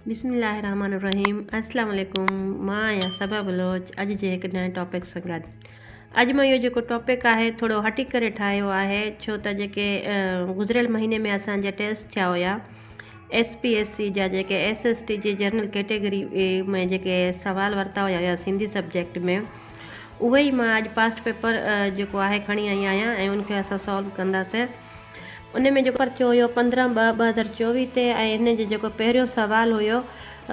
بسم الله الرحمن الرحيم السلام عليڪم مان آهيان صبا بلوچ اڄ جي هڪ نئين ٽاپڪ سان گڏ اڄ مان اهو جيڪو ٽاپڪ آهي ٿورو هٽي ڪري ٺاهيو آهي ڇو ته جيڪي گذريل مهيني ۾ اسانجا ٽيسٽ ٿيا هيا ايس پي ايس سي جا جيڪي ايس ايس ٽي جي جنرل ڪيٽيگري ۾ جيڪي سوال ورتا هيا هيا سنڌي سبجيڪٽ ۾ اهي ئي مان اڄ پاسٽ پيپر جيڪو آهي کڻي آئي آهيان ۽ ان کي اسان سالو ڪنداسين ان ۾ جيڪو پرچو هيو پندرهن ٻه ٻه هزار چوويهه تي ۽ هن جو جيڪو پهريون سوال هيو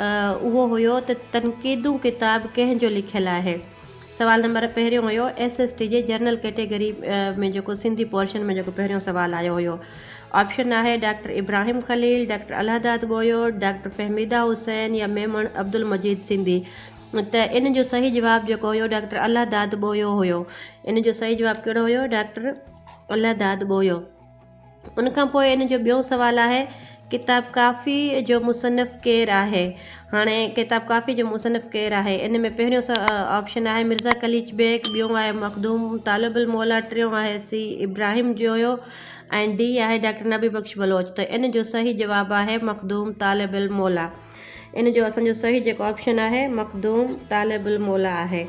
اهو هيو ته تنقيدون ڪتاب ڪنهن جو لکيل آهي؟ سوال نمبر پهريون هيو ايس ايس ٽي جي جرنل ڪيٽيگري ۾ جيڪو سنڌي پورشن ۾ جيڪو پهريون سوال آيو هيو آپشن آهي doctor Ibrahim Khalil doctor Allahdad Bohio doctor Fahmida Hussain يا ميمڻ عبدالمجيد سنڌي ته ان جو صحيح جواب جيڪو هيو ڊاڪٽر الهداد ٻويو هيو ان جو صحيح جواب ڪهڙو هيو ڊاڪٽر الله داد ٻويو ان کان پوء ان جو ٻيو سوال آهي ڪتاب ڪافي جو مصنف ڪير آهي هاڻي ڪتاب ڪافي جو مصنف ڪير آهي ان ۾ پهريون سا آپشن آهي مرزا قليچ بيگ ٻيو آهي مخدوم طالب الموليٰ ٽيون آهي سي ابراهيم جويو ۽ ڊي آهي ڊاڪٽر نبي بخش بلوچ ته ان جو صحيح جواب آهي مخدوم طالب الموليٰ ان جو اسان جو صحيح جيڪو آپشن آهي مخدوم طالب الموليٰ آهي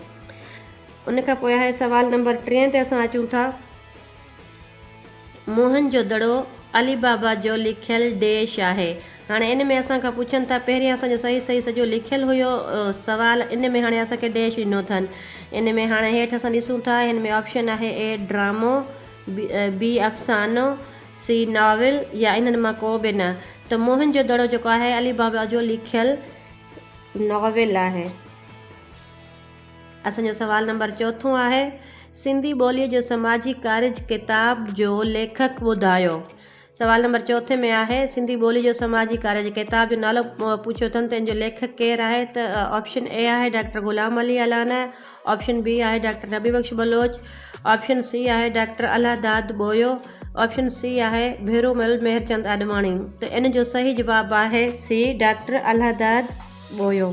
ان کان پوء هاء سوال نمبر ٽئين تي اسان اچون ٿا. موهن جو دڙو علي بابا جو لکيل ڊيش آهي. هاڻي ان ۾ اسان کان پڇن ٿا پهرين اسان جو صحيح صحيح سڄو لکيل هيو سوال ان ۾ هاڻي اسان کي ڊيش ڏنو اٿن. ان ۾ هاڻي هيٺ اسان ڏسون ٿا هن ۾ آپشن آهي اي ڊرامو، بي افسانو، سي ناول يا انهن مان ڪو به نه. ته موهن جو دڙو جيڪو آهي علي بابا جو لکيل ناول آهي. اسان جو سوال نمبر چوٿون آهي سنڌي ٻوليء جو سماجي ڪارج ڪتاب جو ليکڪ ٻڌايو سوال نمبر چوٿين ۾ آهي سنڌي ٻوليء جو سماجي ڪارج ڪتاب جو نالو پڇيو اٿن ته ان جو ليکڪ ڪير آهي ته آپشن اي آهي doctor Ghulam Ali Allana option B آهي doctor Nabi Bakhsh Baloch option C آهي doctor Allah Dad Bohio option C آهي ڀيرو مل مهرچند آڏواڻي ته ان جو صحيح جواب آهي سي ڊاڪٽر الله داد ٻويو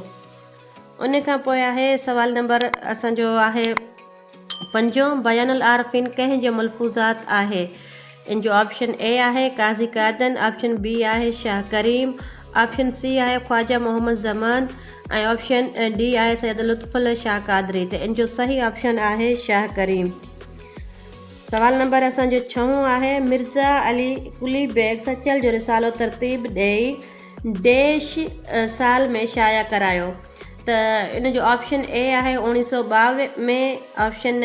ان کان پوء آهي سوال نمبر اسان جو آهي پنجون بيان العارفين ڪنهن جو ملفوظات آهي ان جو آپشن اي آهي قاضي قادن آپشن بي آهي شاهه ڪريم آپشن سي آهي خواجه محمد زمان ۽ آپشن ڊي آهي سيد لطف الله شاهه قادري ته ان جو صحيح آپشن آهي شاهه ڪريم سوال نمبر اسان جو ڇهون آهي مرزا علي قلي بيگ سچل جو رسالو ترتيب ڏئي ديش سال ۾ شايع ڪرايو ته ان جو آپشن اي آهي اوڻيھ سؤ ٻاويھ ۾ آپشن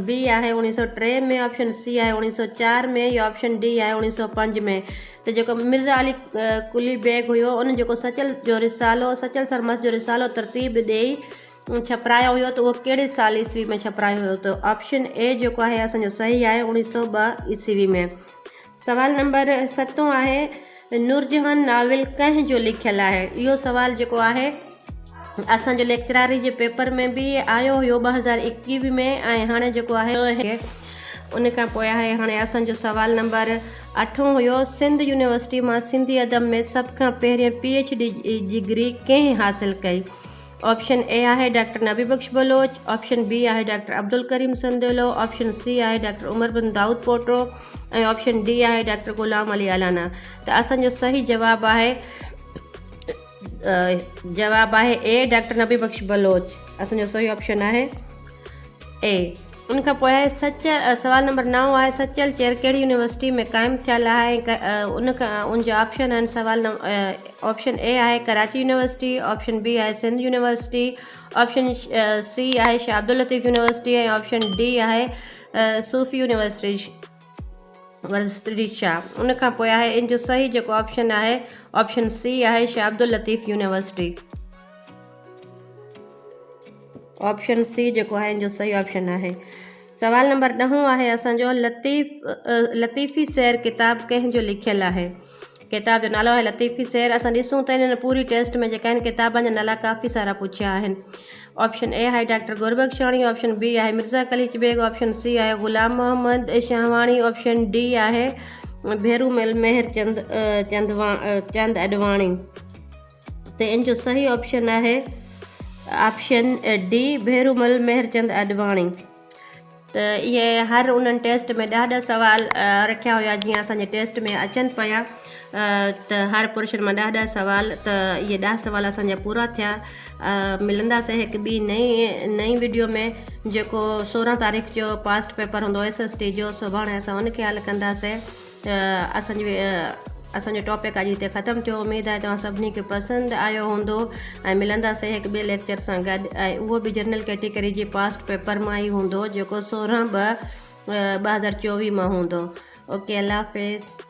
بي آهي اوڻيھ سؤ ٽي ۾ آپشن سي آهي اوڻيھ سؤ چار ۾ يا آپشن ڊي آهي اوڻيھ سؤ پنج ۾ ته جيڪو مرزا علي قلي بيگ هيو ان جيڪو سچل جو رسالو سچل سرمست جو رسالو ترتيب ڏيئي ڇپرايو هيو ته اهو ڪهڙي سال عيسوي ۾ ڇپرايو هيو ته آپشن اي جيڪو آهي اسان جو صحيح آهي اوڻيھ سؤ ٻه عيسوي ۾ سوال نمبر ستون آهي نورجهان ناول ڪنهن جو لکيل آهي اهو سوال جيڪو آهي اسان جو ليڪچراري جي پيپر ۾ به آيو هيو ٻه هزار اڪيوي ۾ ۽ هاڻي جيڪو آهي ان کان پوء آهي هاڻي اسان جو سوال نمبر اٺون هيو سنڌ يونيورسٽي مان سنڌي ادب ۾ سڀ کان پهرين پي ايڇ ڊي جي ڊگري ڪنهن حاصل ڪئي آپشن اي آهي doctor Nabi Bakhsh Baloch, option B آهي doctor Abdul Karim Sandilo, option C آهي doctor Umar bin Daud Poto ۽ option D آهي ڊاڪٽر غلام علي الانا ته اسان جو صحيح جواب آهي جواب آهي اي ڊاڪٽر نبي بخش بلوچ اسان جو صحيح آپشن آهي اي ان کان پوء سچ سوال نمبر نو آهي سچل چيئر ڪهڙي يونيورسٽي ۾ قائم ٿيل آهي ۽ ان جا آپشن آهن سوال آپشن اي آهي ڪراچي يونيورسٽي آپشن بي آهي سنڌ يونيورسٽي آپشن سي آهي Shah Abdullatif university ۽ option D آهي صوفي يونيورسٽي ورسٽري شاهه ان کان پوء آهي ان جو صحيح جيڪو آپشن آهي آپشن سي آهي Shah Abdullatif university option C جيڪو آهي ان جو صحيح آپشن آهي سوال نمبر ڏهون آهي اسانجو لطيف لطيفي سير ڪتاب ڪنهن جو لکيل آهي ڪتاب جو نالو آهي لطيفي سير اسان ڏسون ته انهن پوري ٽيسٽ ۾ جيڪا آهن ڪتابن جا نالا ڪافي سارا پڇيا آهن آپشن اي آهي ڊاڪٽر گوربخشاڻي آپشن بي آهي مرزا قليچ بيگ آپشن سي آهي غلام محمد شاهواڻي آپشن ڊي آهي ڀيرو مل مهر چند چند چند اڏواڻي ته ان جو صحيح آپشن آهي آپشن ڊي ڀيرو مل مهر چند اڏواڻي ته اهي هر انهن ٽيسٽ ۾ ڏهه ڏهه سوال رکيا هيا جيئن اسان جي ٽيسٽ ۾ اچن پيا ته هر پورشن مان ڏهه ڏهه سوال ته اهي ڏهه سوال اسان جا پورا ٿيا ملنداسي هڪ ٻي نئين نئين ويڊيو ۾ جيڪو سورهن تاريخ جو پاسٽ پيپر هوندو ايس ايس ٽي جو سڀاڻي اسان ان کي حل ڪنداسي اسان جي اسان جو ٽاپڪ اڄ هتي ختم ٿيو اميد آهي توهان سڀني کي پسند آيو هوندو ۽ ملنداسين هڪ ٻئي ليڪچر سان گڏ ۽ اهو به جنرل ڪيٽيگري جي پاسٽ پيپر مان ئي هوندو جيڪو سورهن ٻه ٻه هزار چوويهه مان هوندو اوڪي الله حافظ